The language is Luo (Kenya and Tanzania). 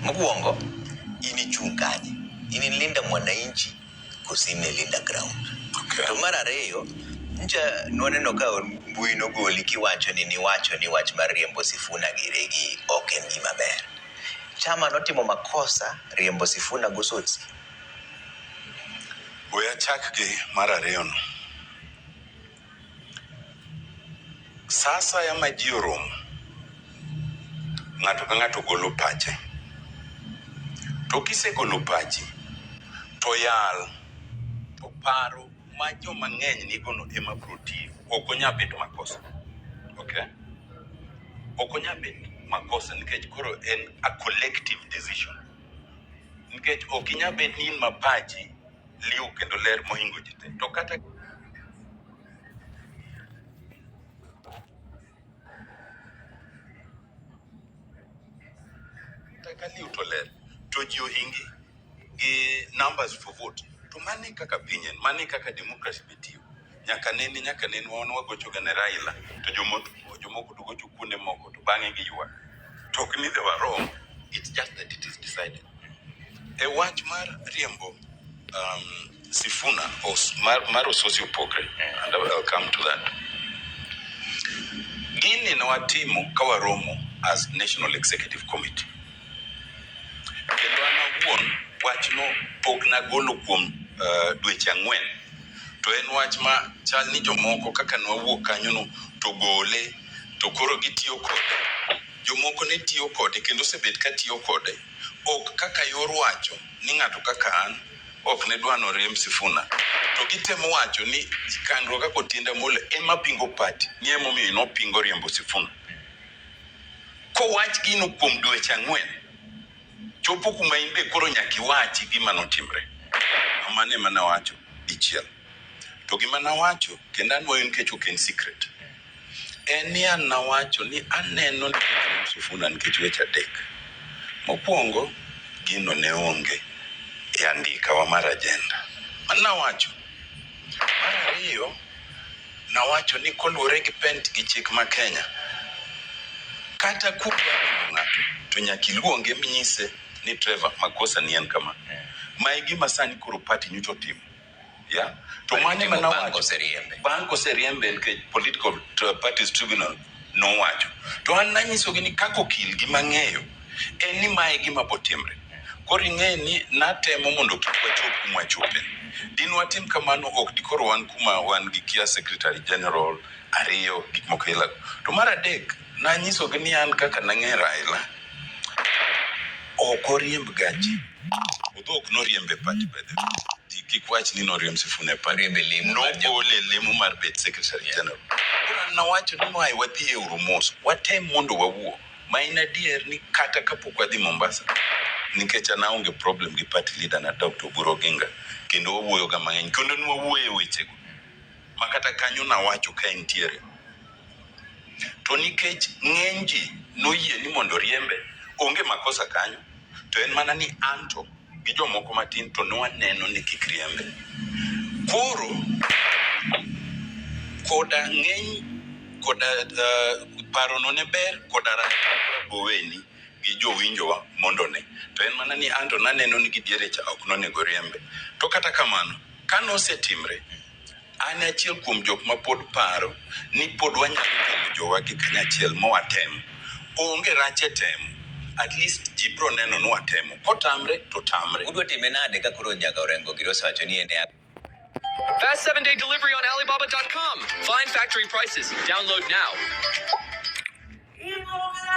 Mokuongo inichung' kanye? Inilinda mwananchi koso inilinda ground? Okay. To mar ariyo nja nwaneno ka mbui nogoli kiwacho ni niwacho ni wach mar riembo Sifuna gi Regi ok en gima ber. Chama notimo makosa riembo Sifuna gosotsi. We achak gi mar ariyono. Sa asaya ma ji oromo, ng'ato ka ng'ato golo pache. To kisegolo pachi, to yal. To paro ma joma ng'eny nigono ema biro tiyo. Ok onyal bet makosa. Okay? Ok onyal bet makosa nikech koro en a collective decision. Nikech ok inyal bet ni in ma pachi liw kendo ler mohingo ji te to kata ka liw to ler to ji ohingi gi numbers for vote to mani kaka pinyen mani kaka democracy bitiyo nyaka nene nyaka nene wan wagocho ga ne Raila to jomoko jomoko to gocho kuonde moko to bang'e gi ywa to ok ni they were wrong it's just that it is decided e wach mar riembo um, Sifuna os, mar, mar Ososi Opogre yeah. and I will come to that gini ne watimo ka waromo as National Executive Committee kendo an awuon wachno pok nagolo kuom uh, dweche ang'wen To en wach ma chal ni jomoko kaka nwawuok kanyono to gole to koro gitiyo kode. Jomoko ne tiyo kode kendo osebet ka tiyo kode. Ok kaka yor wacho ni ng'ato kaka an ok ne dwa noriemb Sifuna. To gitemo wacho ni kandruok kaka Otiende Amolo ema pingo party ni ema omiyo nopingo riembo Sifuna. Kowach gino kuom dweche ang'wen. Chopo kuma in be koro nyaka iwachi gima notimre. Mane ema nawacho dichiel. To gima nawacho kendo anwoyo nikech ok en secret. En ni an nawacho ni aneno ni Sifuna nikech weche adek. Mokwongo, gino ne onge e andikawa mar ajenda. Mano nawacho. Mar ariyo, Nawacho ni koluwore gi pent gi chik ma Kenya, kata kuwa neno ng'ato to nyaka iluonge minyise ni Trevor makosa ni en kama. Ma e gima sani koro party nyocha otimo. Yeah. To Party mane timo ma bang' nawacho koseriembe. bang' koseriembe nikech political Tri- parties tribunal nowacho. To an nanyisogi ni kaka okil gi mang'eyo en ni mae gima botimre koro ing'e ni natemo mondo kik wachop kuma wachope din watim kamano ok dikoro wan kuma wan gi kia secretary general ariyo gik moko ila to mar adek nanyisogi ni an kaka nang'e raila ok oriemb gachi odho ok noriembe pati bedhe kik wach ni noriemb sifune pati nogole lemo mar bet secretary general koro nawacho ni mae wadhi e uru mos watem mondo wawuo Ma en adier ni kata kapok wadhi Mombasa, nikech an aonge problem gi party leader na Doctor Oburu Oginga kendo wawuoyo ga mang'eny kendo ne wawuoyo e wechego ma kata kanyo nawacho ka entiere to nikech ng'eny ji noyie ni mondo oriembe, onge makosa kanyo. to en mana ni anto gi jomoko matin to ne waneno ni kik riembe. Koro koda ng'eny koda uh, parono ne ber koda rach boweni gi jowinjowa mondo ne to en mana ni anto naneno ni gidiere cha ok nonego riembe to kata kamano ka nosetimre An e achiel kuom jok ma pod paro ni pod wanyalo temo jowa gi kanyachiel ma watem. Onge rach e temo. At least ji bro neno ni watemo. Kotamre to tamre. Udwa time nade ka koro Nyaga Orengo giri osewacho ni en e Fast seven day delivery on Alibaba.com. Find factory prices. Download now. Iboga